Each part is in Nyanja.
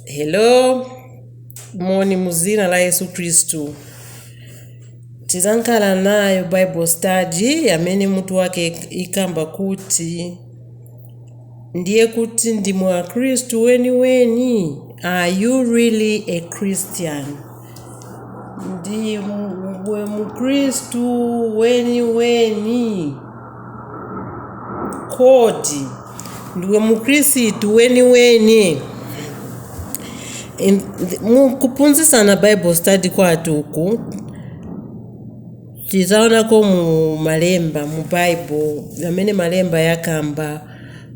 hello moni mu dzina la yesu khristu tizankhala nayo bible study amene mutu wake ikamba kuti ndiye kuti ndimwe akhristu weniweni are you really a christian Ndiwe Mkhristu weniweni? Kodi ndiwe Mkhristu weniweni? Mukuphunzitsana Bible study kwathu uku tizaonako mu malemba mu Bible amene malemba yakamba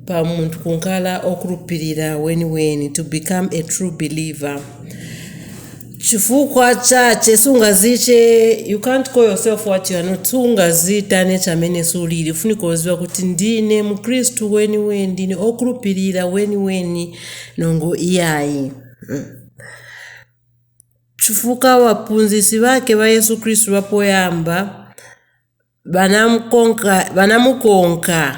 pa munthu kunkala okhulupirira weniweni to become a true believer chifukwa chache sungaziche you can't call yourself what you are not sungazitane chamene sulili ufunika uziwa kuti ndine mkhristu weniweni ndine okhulupirira weniweni nongo iyayi mm. chifukwa waphunzisi vake va yesu khristu vapoyamba banamukonka, banamukonka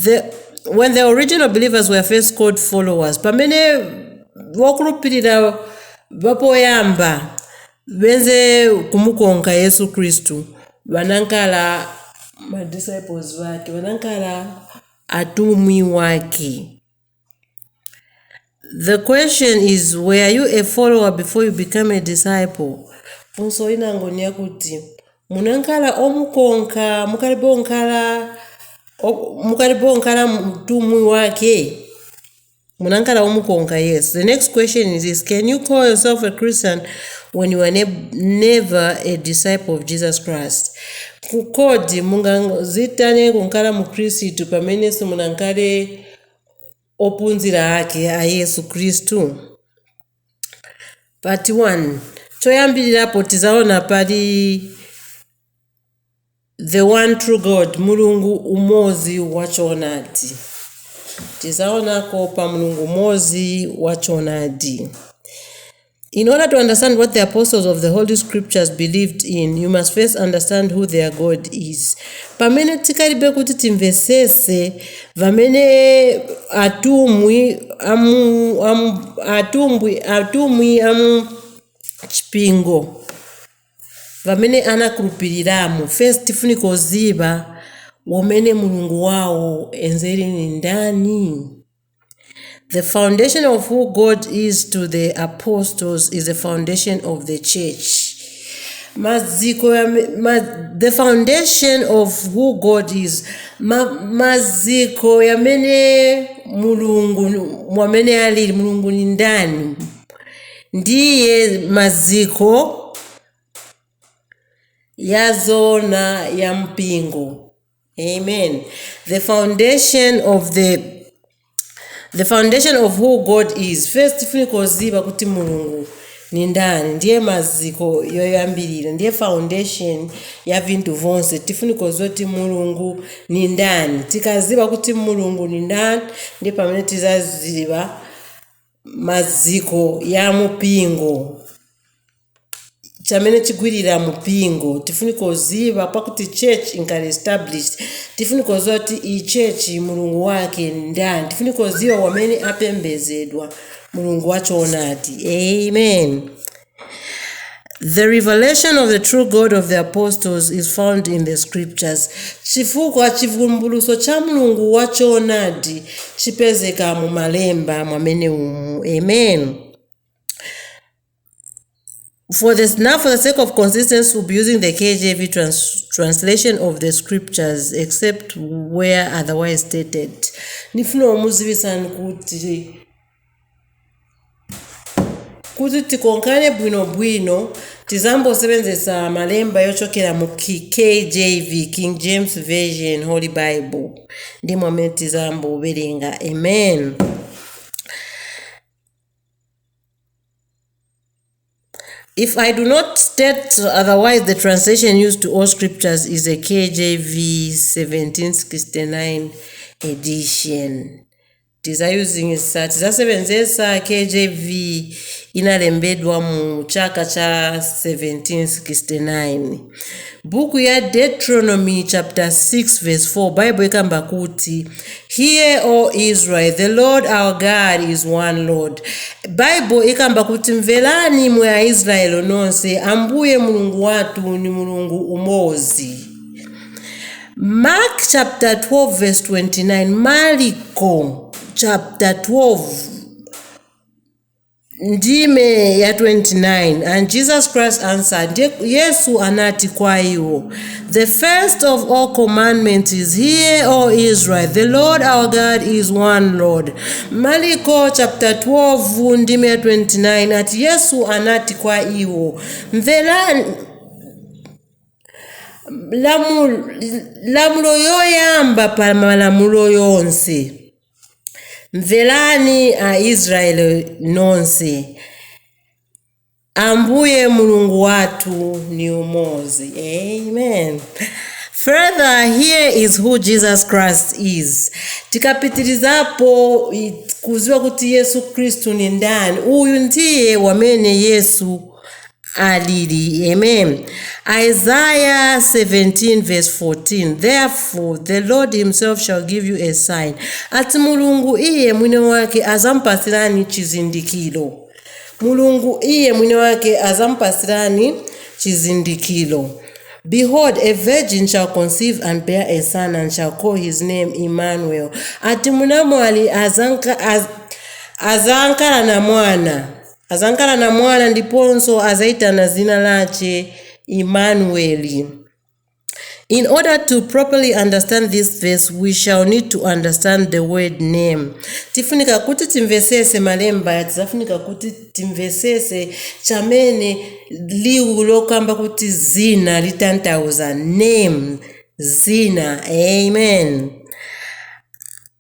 the, when the original believers were first called followers pamene wokhulupirira vapoyamba venze kumukonka yesu kristu vanankala madisciples vake vanankala atumwi wake The question is were you a follower before you became a disciple? Funso linango ni yakuti munankala omukonka mukalipo nkala o- mukalipo nkala mtumwi wake munankala omukonka yes the next question is this can you call yourself a christian when you were ne never a disciple of jesus christ Ku- kodi mungazitane kunkala mu kristu pamene simunankale opunzira ake a Yesu Kristu? Part 1 choyambirirapo tizaona pali the one true God mulungu umodzi wa choonadi tizaonako pa mulungu umodzi wa choonadi In order to understand what the apostles of the Holy Scriptures believed in, you must first understand who their God is. Pamene tikalibe kuti timvesese vamene atumwi amu, amu, atumbwi, atumwi amu chipingo vamene anakhulupiriramo first tifunika kuziva wamene mulungu wawo enze ni ndani The foundation of who God is to the apostles is the foundation of the church. Maziko ya mi- ma, the foundation of who God is ma, maziko yamene mulungu mwamene alili mulungu ni ndani ndiye maziko ya zona ya mpingo Amen. The foundation of the the foundation of who God is. First tifunika kuziba kuti Mulungu ni ndani ndiye maziko yoyambirira ndiye foundation ya vinthu vonse tifunika kuziba kuti Mulungu ni ndani tikaziba kuti Mulungu ni ndani ndiye pamene tizaziba maziko ya mupingo chamene chigwirira mupingo tifunika kuziva pakuti church inkhale established tifunika kuziva kuti iyi church mulungu wake ndani tifunika kuziva wamene apembezedwa mulungu wachoonadi amen The revelation of the true God of the apostles is found in the scriptures. Chifukwa chivumbuluso cha Mulungu wa choonadi chipezeka mu malemba mwamene umu. Amen. For this, now, for the sake of consistency, we'll be using the KJV trans, translation of the scriptures, except where otherwise stated. Nifuna kumuzibisani kuti kuti tikonkhane bwinobwino tizambo sebenzesa malemba yochokera mu KJV, King James Version, Holy Bible ndi momwe tizambo werenga amen If I do not state otherwise, the translation used to all scriptures is a KJV 1769 edition. Tizayuzingsa tizasebenzesa KJV inalembedwa mu chaka cha 1769. Buku ya Deuteronomy chapter 6 verse 4 Baibulo ikamba kuti Hear O Israel the Lord our God is one Lord. Baibulo ikamba kuti mverani mwe a Israel nonse ambuye mulungu watu ni mulungu umozi. Mark chapter 12 verse 29 Marko chapter 12 ndime ya 29 and Jesus Christ answered ndiye Yesu anati kwa iwo the first of all commandments is hear O Israel the Lord our God is one Lord Marko chapter 12 ndime ya 29 ati Yesu anati kwa iwo mverani lamulo yoyamba pa malamulo yonse mverani aisraeli nonse ambuye mulungu wathu ni umozi amen further here is who jesus christ is tikapitirizapo kuziwa kuti yesu kristu ni ndani uyu ndiye wamene yesu alili. Amen. Isaiah 7 verse 14 Therefore the Lord himself shall give you a sign. Ati Mulungu iye mwine wake azampatsirani chizindikiro. Mulungu iye mwine wake azamupasirani chizindikiro. Behold, a virgin shall conceive and bear a son and shall call his name Emmanuel. Ati munamwali azankala na mwana azankala na mwana ndiponso azaitana zina lache Emmanueli. In order to properly understand this verse, we shall need to understand the word name. Tifunika kuti timvesese malemba, tizafunika kuti timvesese chamene liwu lokamba kuti zina litantauza name zina. Amen.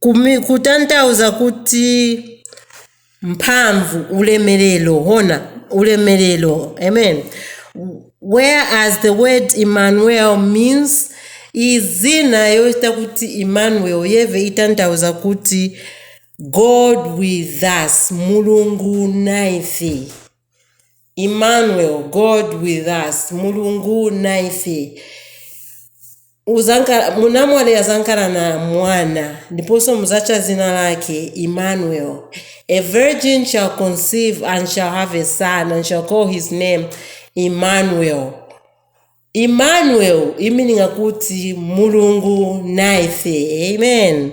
Kumi, kutanthauza kuti mphamvu ulemerero hona ulemerero amen whereas the word emmanuel means izina yoti kuti emmanuel yeve itanthauza kuti god with us mulungu naife Emmanuel, God with us, Mulungu naife. Uzankala, munamwali azankala na mwana ndiponso muzacha zina lake Emmanuel. A virgin shall conceive and shall have a son and shall call his name Emmanuel. Emmanuel imininga kuti Mulungu naife. Amen.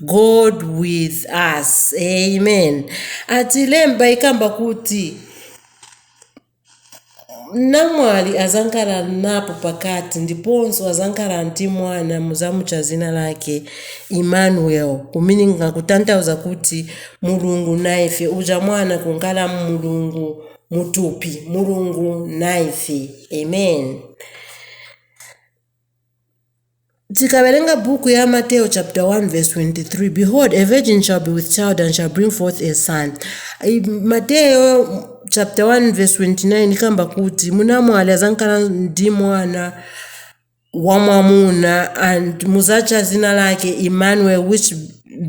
god with us amen ati lemba ikamba kuti namwali azankala nayo pakati ndiponso azankala ndi mwana muzamucha zina lake emmanuel kumininga kutanthauza kuti mulungu naife uja mwana kunkala mulungu mutupi mulungu naife amen Tikawerenga buku ya Mateyo chaputala 1 vesi 23, Behold, a virgin shall be with child and shall bring forth a son. Mateyo chaputala 1 vesi 29 ikamba kuti munamwali azankala ndi mwana wamwamuna and muzatcha zina lake Emmanuel which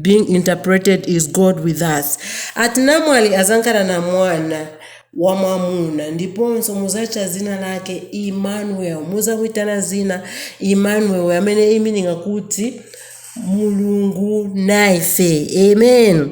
being interpreted is God with us. Ati namwali azankala na mwana wamwamuna, ndiponso muzatcha zina lake Emmanuel, muzamwitana zina Emmanuel, yamene imininga kuti Mulungu naife. Amen.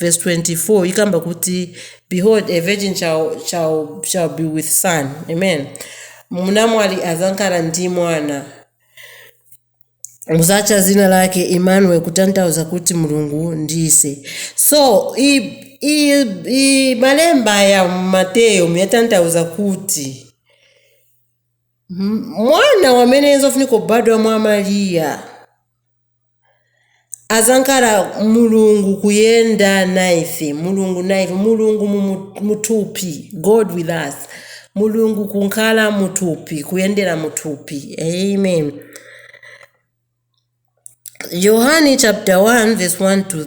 Verse 24 ikamba kuti behold a virgin shall, shall, shall be with son amen munamwali azankhala ndi mwana muzacha zina lake Emmanuel kutanthauza kuti mulungu ndise so i, i, i malemba ya mateyo muyatanthauza kuti mwana wamene zofunika kubadwa mwa mariya azankhala mulungu kuyenda naife mulungu naife mulungu muthupi god with us mulungu kunkhala muthupi kuyendera muthupi amen yohani chapter 1 verse 1 to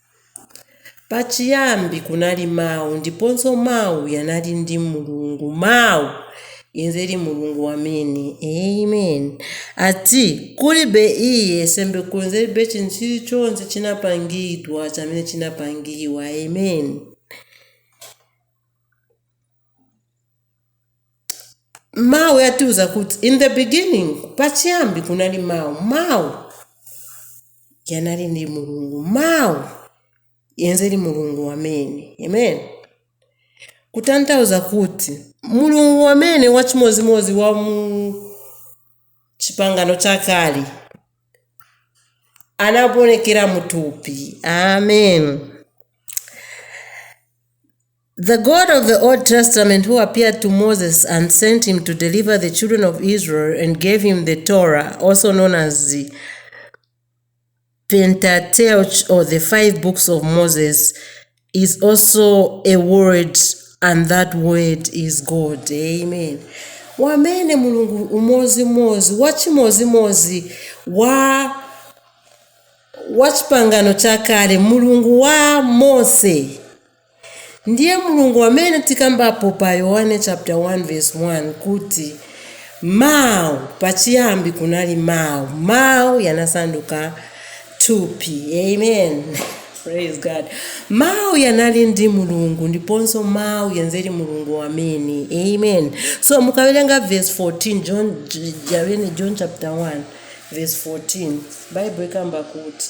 Pachiyambi kunali Mawu, ndiponso Mawu yanali ndi Mulungu. Mawu yenzeli Mulungu wamene. Amen. Ati, kulibe iye sembe kunzelibe chintu chili chonse chinapangidwa chamene chinapangiwa. Amen. mawu yatiuza kuti in the beginning pachiyambi kunali mawu mawu yanali ndi mulungu mawu yenzeli mulungu wamene amen kutanthauza kuti mulungu wamene wachimodzimodzi wa mu chipangano chakale anaonekera mutupi amen The God of the Old Testament who appeared to Moses and sent him to deliver the children of Israel and gave him the Torah, also known as the Pentateuch or the five books of Moses, is also a word, and that word is God. Amen. wamene mulungu umodzimodzi wachimodzimodzi wa wa chipangano chakale mulungu wa mose Ndiye Mulungu wamene tikambapo pa Yohane chapter 1 verse 1 kuti Mau, pachiyambi kunali Mau, Mau yanasanduka thupi. Amen. Praise God. Mau yanali ndi Mulungu ndiponso Mau yenzeli Mulungu wamene. Amen. So mukawelenga verse 14 John Javene John chapter 1 verse 14 Bible ikamba kuti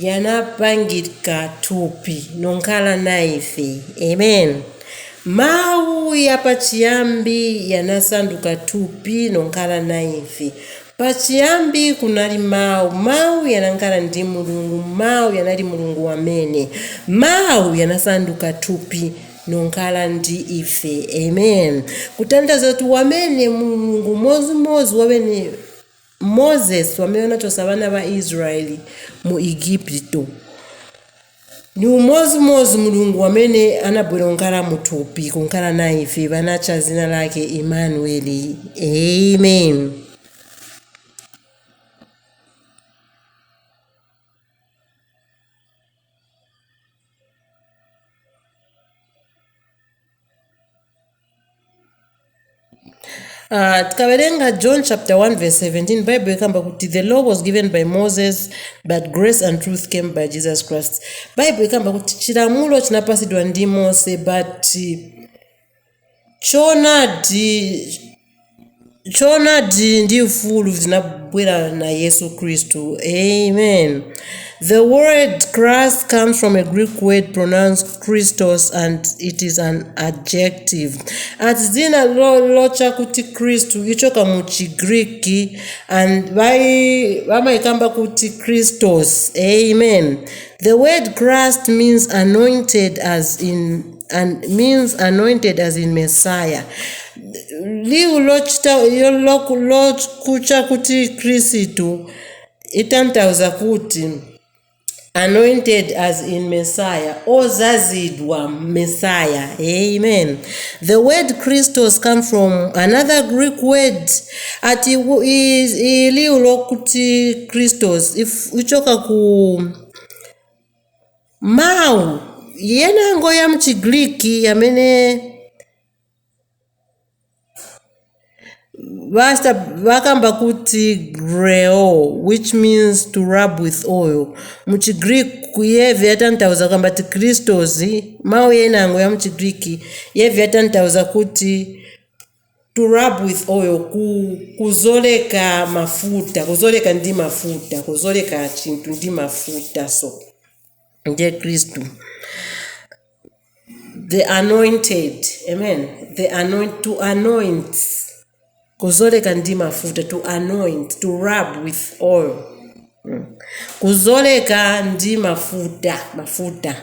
yanapangidka thupi nonkhala naife. Amen. Mawu yapachiyambi yanasanduka thupi nonkhala naife. Pachiyambi kunali Mawu, Mawu yanankhala ndi Mulungu, Mawu yanali Mulungu wamene. Mawu yanasanduka thupi nonkhala ndi ife. Amen. Kutanthauza kuti wamene Mulungu modzi modzi wamene. Moses wamene unachosa bana ba Israel mu Igipito, ni umozi mozi Mulungu wamene anabwera kunkala mu thupi kunkala naife, banacha zina lake Emmanueli. Amen. Uh, tikawerenga john chapter 1 verse 17 bible ikamba kuti the law was given by moses but grace and truth came by jesus christ bible ikamba kuti chilamulo chinapasidwa ndi mose but choonadi Choonadi ndi ufulu zinabwera na Yesu Kristu. Amen. The word Christ comes from a Greek word pronounced Christos and it is an adjective. Ati dzina lo- locha kuti Kristu ichoka ku Chigriki and vai- vamaikamba kuti Christos. Amen. The word Christ means anointed as in and means anointed as in messiah liwu lokuti khristu itanthauza kuti anointed as in messiah ozozedwa messiah amen the word christos came from another greek word ati liwu lokuti christos ichoka ku Mawu yenango ya m'Chigiriki yamene vakamba kuti greo which means to rub with oil mu Chigiriki yeve yatanthauza kukamba ti crystals. Mawu yenango ya m'Chigiriki yeve yatanthauza kuti To rub with oil, ku, kuzoleka mafuta, kuzoleka ndi mafuta, kuzoleka chinthu ndi mafuta. So ndiye Kristu, the anointed, amen, the anoint, to anoint, kuzoleka ndi mafuta, to anoint, to rub with oil, Mm. kuzoleka ndi mafuta, mafuta.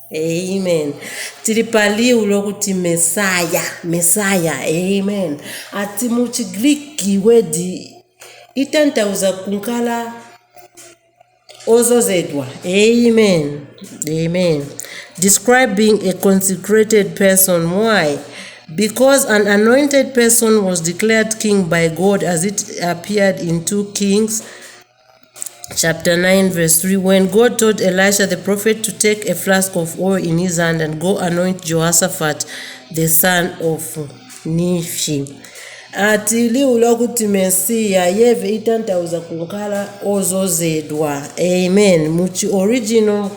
amen tili pa liwu lokuti mesaya mesaya amen ati mu chigriki wedi itanthauza kunkala ozozedwa amen amen describing a consecrated person why because an anointed person was declared king by god as it appeared in 2 kings chapter 9, verse 3, when God told Elisha the prophet to take a flask of oil in his hand and go anoint Jehoshaphat, the son of Nephi. ati liwu lakuti mesiya yeve itanthauza kukhala ozozedwa amen muchi original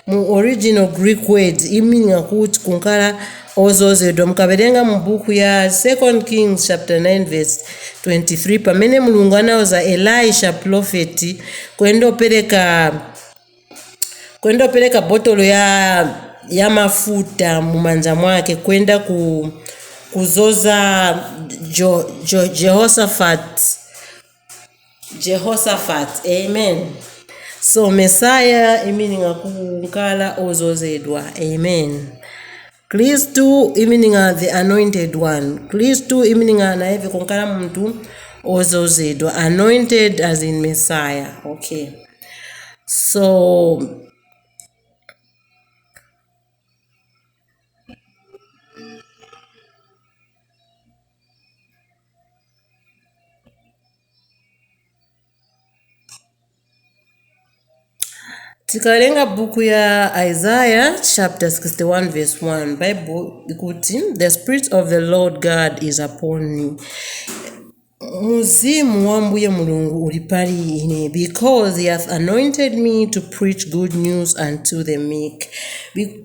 Mu original Greek word imining'a kut kunkala ozozedwa. Mukabelenga mu buku ya 2 Kings chapter 9 verse 23 pamene Mulungu anauza Elisha prophet kwendo peleka kwendo peleka botolo ya ya mafuta mu manja mwake kwenda ku kuzoza jo, jo, Jehoshaphat Jehoshaphat, amen. So Messiah meaning akunkala ozozedwa, amen. Kristu meaning the anointed one. Kristu meaning anayeve kunkala muntu ozozedwa, anointed as in Messiah. Okay. So tikawerenga buku ya isaiah chapter 61 verse 1 bible ikuti the spirit of the lord god is upon me muzimu wa mbuye mulungu uli pali ine because he hath anointed me to preach good news unto the meek Be-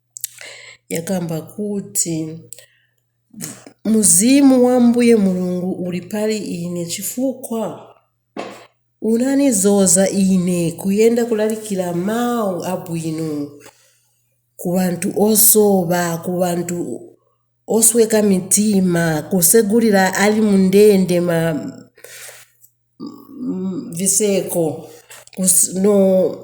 yakamba kuti, Mzimu wa Ambuye Mulungu uli pali ine chifukwa unanizoza ine kuyenda kulalikira mawu abwino ku banthu osoba, ku banthu osweka mitima, kusegulira ali mu ndende ma viseko, no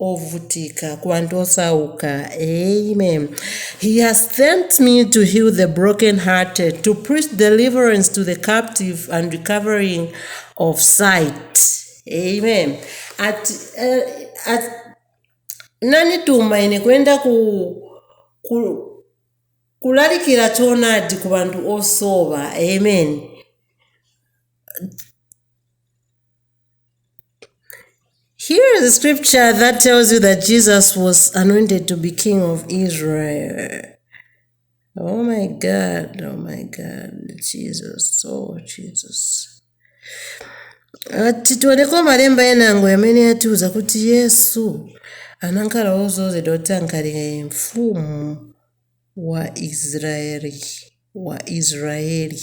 ovutika ku banthu osauka amen he has sent me to heal the broken hearted to preach deliverance to the captive and recovery of sight amen ati eh, ati- nanituma ine kuyenda ku, ku kulalikira choonadi ku banthu osowa amen Here is a scripture that tells you that Jesus was anointed to be king of Israel. Oh my God, oh my God, Jesus, oh Jesus. ati tioneko malemba enango yamene yatiuza kuti yesu anankhala wozozedwa kuti ankhale mfumu wa israeli wa israeli